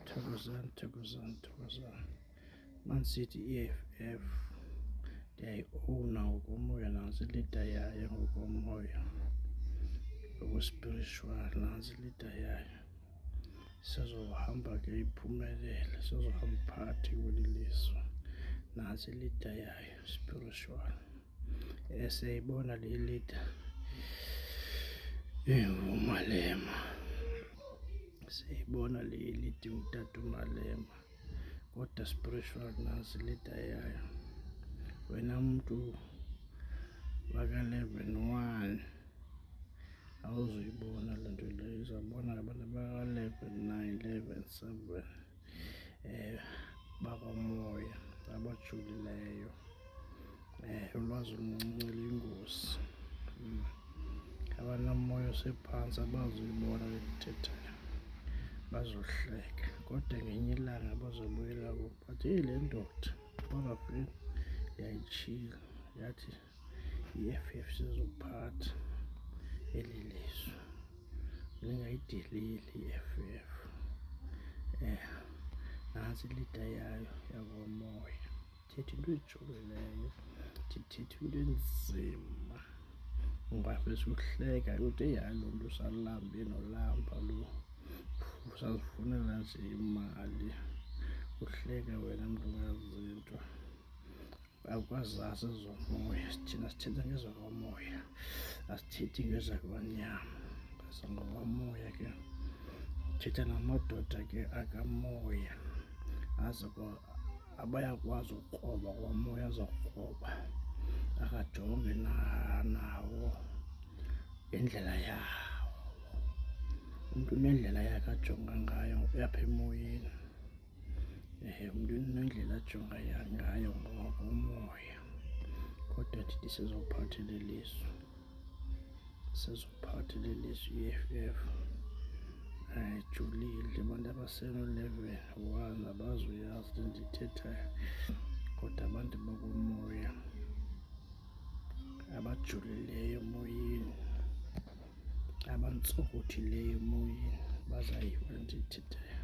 Thokozani, thokozani, thokozani. Man City EFF ndiyayiowuna ngokomoya nantsi ilida yayo ngokomoya ngokwespiritual nantsi ilida yayo sizohamba ke iphumelele sizohamba phakathi kweli lizwe nantsi ilida yayo spiritual eseyibona le lita engumalema seyibona le lita utata umalema kodwa spiritual nasi lita yayo wena mntu waka-eleven one awuzuyibona le nto leyo izabona abantu abaka-eleven nine eleven seven eh, bakomoya abajulileyo eh, ulwazi oluncinci luyingozi mm. abanamoya osephantsi abazuyibona le ndithethayo bazohleka kodwa ngenye ilanga bazobuyela kubo but eyi le ndoda bangafika yayitshile yathi i-F_F sizophatha eli lizwe lingayideleli i-F_F eh nantsi ilida yayo yakomoya thetha into ejokileyo ndithetha into enzima ngoba fesuhleka ude yalo mntu usalambe nolamba lo usazifunela nje imali uhleke wena mntu ungazinto akwazazi ezomoya thina sithetha ngezakwamoya asithethi ngezakwanyama ngezangokwamoya ke thetha namadoda ke akamoya aze abayakwazi ukukroba kwamoya azokukroba akajonge nawo ngendlela yawo umntu unendlela yakhe ajonga ngayo uyapha emoyeni um umntu unendlela ajonga ngayo ngoko umoya kodwa ndithi sizophathela ilizwe sizophathela ilizwe i-eff ayijulile abantu abasenolevel one abazuyazi le ndiyithethayo kodwa abantu bakumoya abajulileyo emoyeni abantsokothileyo emoyeni bazayiva le ndiyithethayo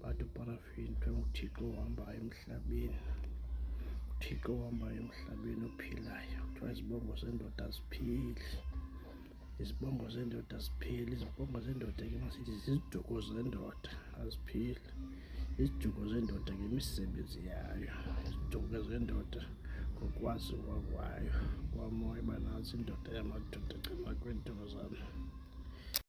but uparafini ke nguthixo ohambayo emhlabeni uthixo ohambayo emhlabeni ophilayo kuthiwa izibongo zendoda ziphili izibongo zendoda zipheli izibongo zendoda ke masithi ziziduko zendoda aziphili iziduko zendoda ngemisebenzi yayo iziduko zendoda ngokwazi kwakwayo kwamoya banazi indoda yamadoda cima kweenduko zami